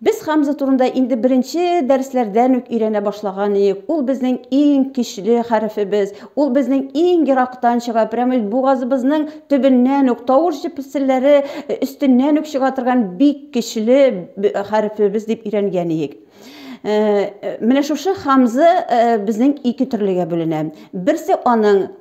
Без Хамза турында инде беренче дәресләрдән үк өйрәнә башлаган идек. Ул безнең иң көчле хәрефебез. Ул безнең иң ерактан чыга, прямо бугазыбызның төбеннән үк тавыш җепселләре э, өстеннән үк чыга торган бик көчле хәрефебез дип өйрәнгән идек. Э, э, менә шушы хамзы безнең ике төрлегә бүленә. Берсе аның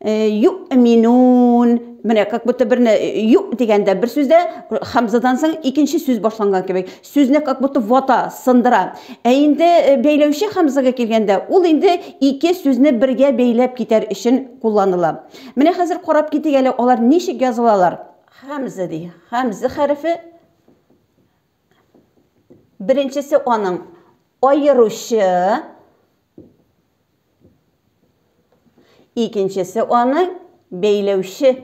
Юминун. Менә как будто берне ю дигәндә бер сүздә хамзадан соң икенче сүз башланган кебек. Сүзне как будто вата, сындыра. Ә инде бәйләүче хамзага килгәндә, ул инде ике сүзне бергә бәйләп китәр өчен кулланыла. Менә хәзер карап китик әле, алар ничек язылалар. Хамза ди. Хамза хәрефе. Беренчесе аның аеручы, Икенчесе аны бәйләүче.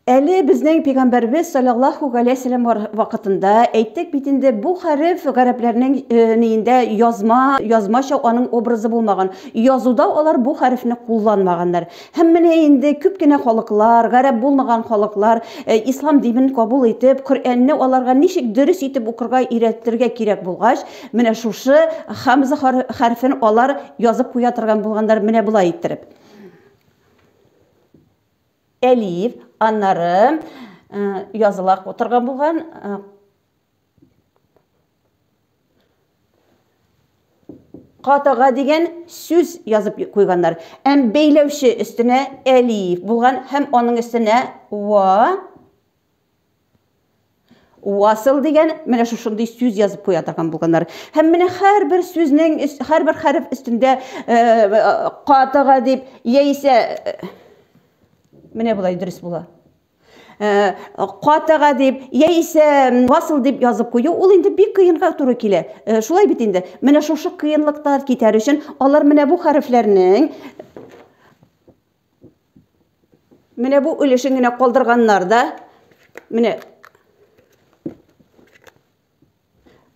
Әле безнең пигамбәрбез саллаллаху галәйһи вәсәлләм вакытында әйттек бит инде бу хәреф гарәпләрнең э, ниендә язма язмача аның образы булмаган. Язуда алар бу хәрефне кулланмаганнар. Һәм менә инде күп кенә халыклар, гарәп булмаган халыклар, ислам динен кабул итеп, Коръәнне аларга ничек дөрес итеп укырга өйрәтергә кирәк булгач, менә шушы хамза хәрфен алар язып куя торган булганнар менә болай иттереп. Әлиф, аннары языла торган булган Катага дигән сүз язып куйганнар. Әм бәйләүче өстенә әлиф булган һәм аның өстенә ва Уасыл дигән менә шушындый сүз язып куя торган булганнар. Һәм менә һәрбер сүзнең, һәрбер хәреф өстендә катыга дип, яисә менә болай дөрес була. Э, катага дип яисә васыл дип язып кую ул инде бик кыенга туры килә э, шулай бит инде менә шушы кыенлыктан китәр өчен алар менә бу хәрефләрнең менә бу өлешен генә калдырганнар да менә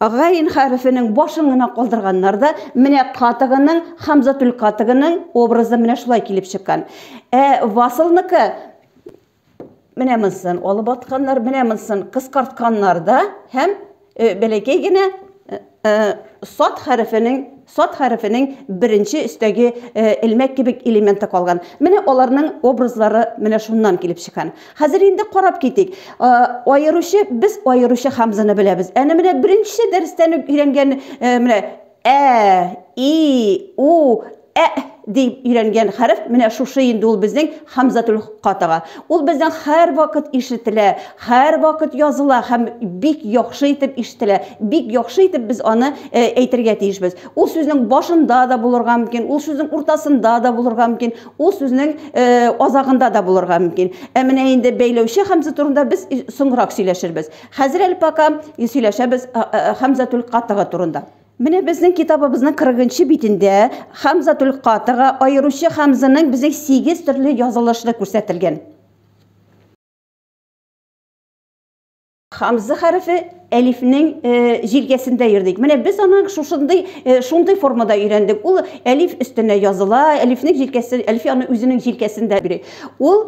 Гайн хәрефенең башын гына калдырганнар да, менә катыгының, Хамзатул катыгының образы менә шулай килеп чыккан. Ә Васылныкы менә монсын алып атканнар, менә монсын кыскартканнар да һәм э, бәләкәй генә э, э, сад хәрефенең сад хәрефенең беренче өстәге элмәк кебек элементы калган. Менә аларның образлары менә шуннан килеп чыккан. Хәзер инде карап китик. Аеручы, без аеручы хамзаны беләбез. Әнә менә беренче дәрестән үк өйрәнгән э, менә ә, и, у, ә дип өйрәнгән хәреф менә шушы инде ул безнең хамзатул катага. Ул безнең һәр вакыт ишетелә, һәр вакыт языла һәм бик яхшы итеп ишетелә. Бик яхшы итеп без аны э, әйтергә тиешбез. Ул сүзнең башында да булырга мөмкин, ул сүзнең уртасында да булырга мөмкин, Ул сүзнең э, азагында да булырга мөмкин. Ә менә инде бәйләүче хамза турында без соңрак сөйләшербез. Хәзер әле пока сөйләшәбез э, э, хамзатул катыга турында. Менә безнең китабыбызның 40 битендә хамзатул катыга аеручы хамзаның безнең 8 төрле язылышы күрсәтелгән. Хамза хәрефе әлифнең э, җилгәсендә йөрдек. Менә без аны шушындый э, шундый формада өйрәндек. Ул әлиф өстенә языла, әлифнең җилкәсе, әлиф аны үзенең җилкәсендә бирә. Ул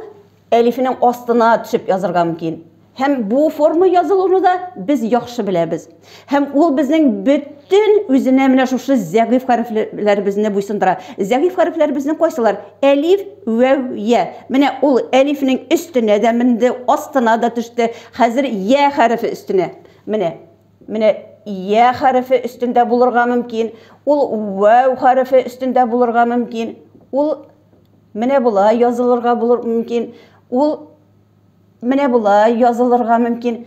әлифнең астына төшеп язырга мөмкин. Һәм бу форма язылуны да без яхшы беләбез. Һәм ул безнең бөтен үзенә менә шушы зәгыйф хәрефләребезне буйсындыра. Зәгыйф хәрефләребезнең кайсылар? Әлиф, вәү, я. Менә ул әлифнең өстенә дә менде, астына да төште. Хәзер я хәрефе өстенә. Менә. Менә я хәрефе өстендә булырга мөмкин. Ул вәү хәрефе өстендә булырга мөмкин. Ул менә болай язылырга булыр мөмкин. Ул менә болай язылырга мөмкин.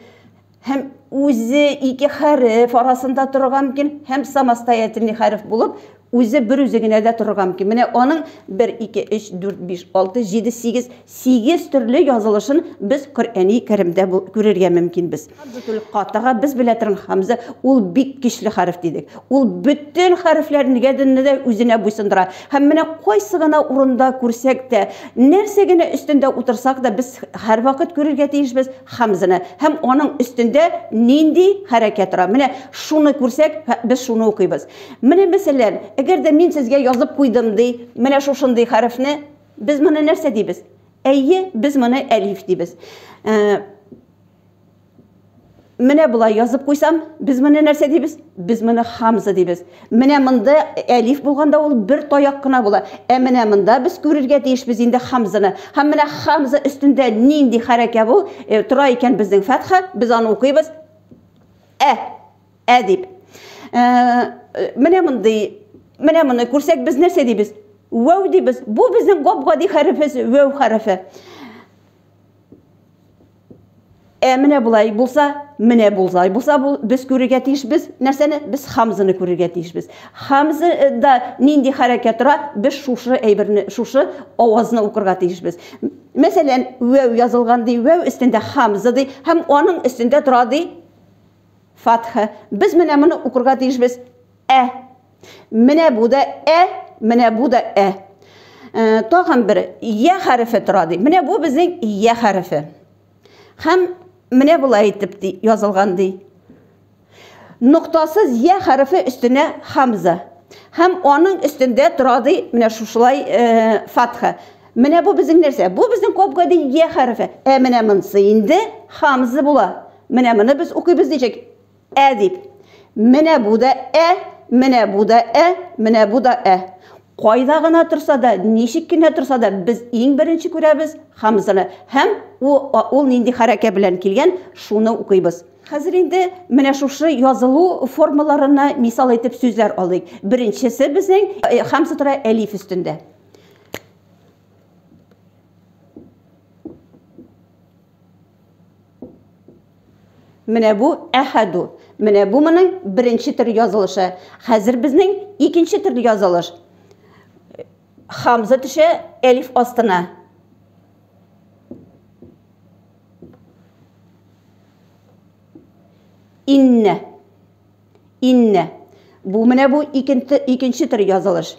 һәм үзе ике хәреф арасында торырга мөмкин һәм самостоятельный хәреф булып үзе бер үзе генә дә торырга мөмкин менә аның 1 2 3 4 5 6 7 8 8 төрле язылышын без коръәни кәримдә күрергә мөмкинбез катага без белә торган хамза ул бик көчле хәреф дидек ул бөтен хәрефләрне дә үзенә буйсындыра һәм менә кайсы гына урында күрсәк тә нәрсә генә өстендә утырсак та без һәрвакыт күрергә тиешбез Хәмзәне һәм аның өстендә нинди хәрәкәт тора. Менә шуны күрсәк, без шуны укыйбыз. Менә мәсәлән, әгәр дә мин сезгә язып куйдым ди, менә шушындый хәрефне, без моны нәрсә дибез? Әйе, без моны әлиф дибез. Ә, менә болай язып куйсам, без моны нәрсә дибез? Без моны хамза дибез. Менә монда әлиф булганда ул бер таяк кына була. Ә менә монда без күрергә тиешбез инде хамзаны. Һәм менә хамза өстендә нинди хәрәкә бу? Э, тора икән безнең фәтха, без аны укыйбыз. Ә, ә дип. Э, менә мондый, менә моны күрсәк без нәрсә дибез? Вәү дибез. Бу безнең гап-гади хәрефебез, вәү хәрефе. Ә менә болай булса, менә булзай булса, бу без күрергә тиешбез. Нәрсәне? Без Хамзаны күрергә тиешбез. Хамза да нинди хәрәкәт тора? Без шушы әйберне, шушы авазны укырга тиешбез. Мәсәлән, вәү язылган ди, вәү өстендә Хамза ди, һәм аның өстендә тора ди фатха. Без менә моны укырга тиешбез. Ә Менә бу да ә, менә бу да ә. Э, тагын бер я хәрефе тора ди. Менә бу безнең я хәрефе. Һәм менә болай итеп ди, язылган ди. Ноктасыз я хәрефе өстенә хамза. Һәм аның өстендә тора ди, менә шушылай э, фатха. Менә бу безнең нәрсә? Бу безнең коп гади я хәрефе. Ә менә монсы инде хамза була. Менә моны без укыйбыз ничек? Ә дип. Менә бу да ә, менә бу да ә, менә бу да ә. Кайда гына торса да, ничек кенә торса да, без иң беренче күрәбез хамзаны һәм ул нинди хәрәкә белән килгән, шуны укыйбыз. Хәзер инде менә шушы язылу формаларына мисал итеп сүзләр алыйк. Беренчесе безнең э, хамза тора әлиф өстендә. Менә бу әхәду. Менә бу моның беренче төр язылышы. Хәзер безнең икенче төр язылыш. Хамза төшә әлиф астына. Инне. Инне. Бу менә бу икенче төр язылыш.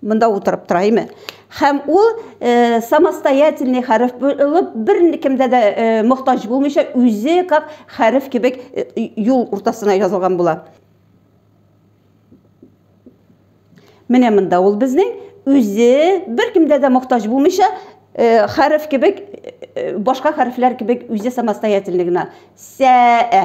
Монда утырып тора, әйме? Хәм ул э, самостоятельный хәреф булып, бер кемдә дә э, мохтаҗ булмыйча, үзе как хәреф кебек э, юл уртасына язылган була. Менә монда ул безнең үзе бер кемдә дә мохтаҗ булмыйча, э, хәреф кебек э, башка хәрефләр кебек үзе самостоятельный гына. Сәә.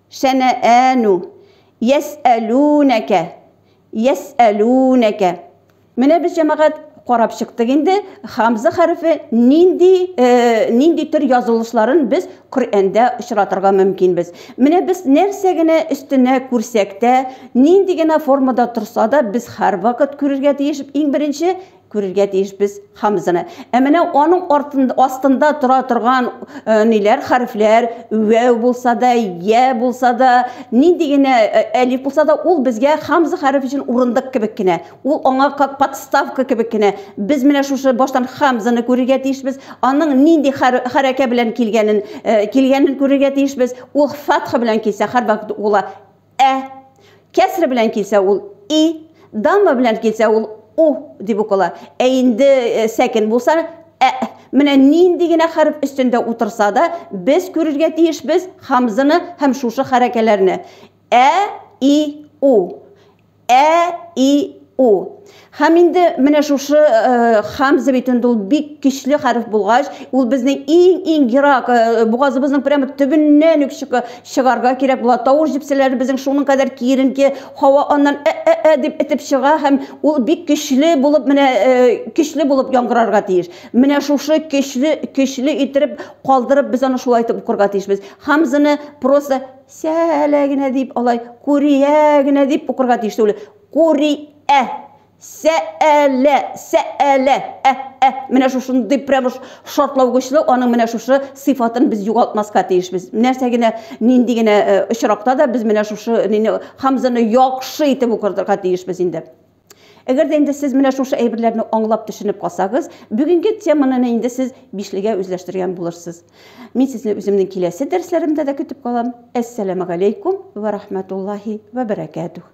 Шәнәәну. Йәсәлүнәкә. Йәсәлүнәкә. Менә без, җәмәгать, карап чыктык инде, хамза хәрефе нинди, нинди төр язылышларын без Коръәндә очратырга мөмкинбез. Менә без нәрсә генә өстенә күрсәк тә, нинди генә формада торса да, без һәрвакыт күрергә тиеш, иң беренче, күрергә тиеш без хамзаны. Ә менә аның артында астында тора торган э, ниләр хәрефләр, вәү булса да, я булса да, нинди генә э, әлиф булса да, ул безгә хамза хәреф өчен урындык кебек кенә. Ул аңа как подставка кебек кенә. Без менә шушы баштан хамзаны күрергә тиешбез. Аның нинди хәрәкә белән килгәнен э, килгәнен күрергә тиешбез. Ул фатха белән килсә, һәрвакыт ула ә. Кәсре белән килсә ул и, дамма белән килсә ул у дип укыла. Ә инде э, сәкен булса ә. Менә нинди генә хәреф өстендә утырса да, без күрергә тиешбез хамзаны һәм шушы хәрәкәләрне. Ә, и, у. Ә, и, у. Һәм инде менә шушы э, хамза бит инде ул бик көчле хәреф булгач, ул безнең иң-иң ерак э, бугазыбызның прямо төбеннән үк чыгарга кирәк була. Тавыш җепсәләре безнең шуның кадәр киеренке, һава аннан ә-ә-ә дип итеп чыга һәм ул бик көчле булып менә э, көчле булып яңгырарга тиеш. Менә шушы көчле көчле иттереп калдырып без аны шулай итеп укырга тиешбез. Хамзаны просто Сәлә генә дип алай, күрия генә дип укырга тиеш түгел. Күриә. Сәәлә, сәәлә. Ә, ә, менә шушындый прямо шартлаугычлы аның менә шушы сыйфатын без югалтмаска тиешбез. Нәрсә генә, нинди генә э, очракта да без менә шушы нине хамзаны яхшы итеп укырга тиешбез инде. Әгәр дә инде сез менә шушы әйберләрне аңлап төшенеп калсагыз, бүгенге теманы инде сез бишлегә үзләштергән булырсыз. Мин сезне үземнең киләсе дәресләремдә дә көтеп калам. Әссәламәгаләйкүм вә рахмәтуллаһи вә бәрәкәтүх.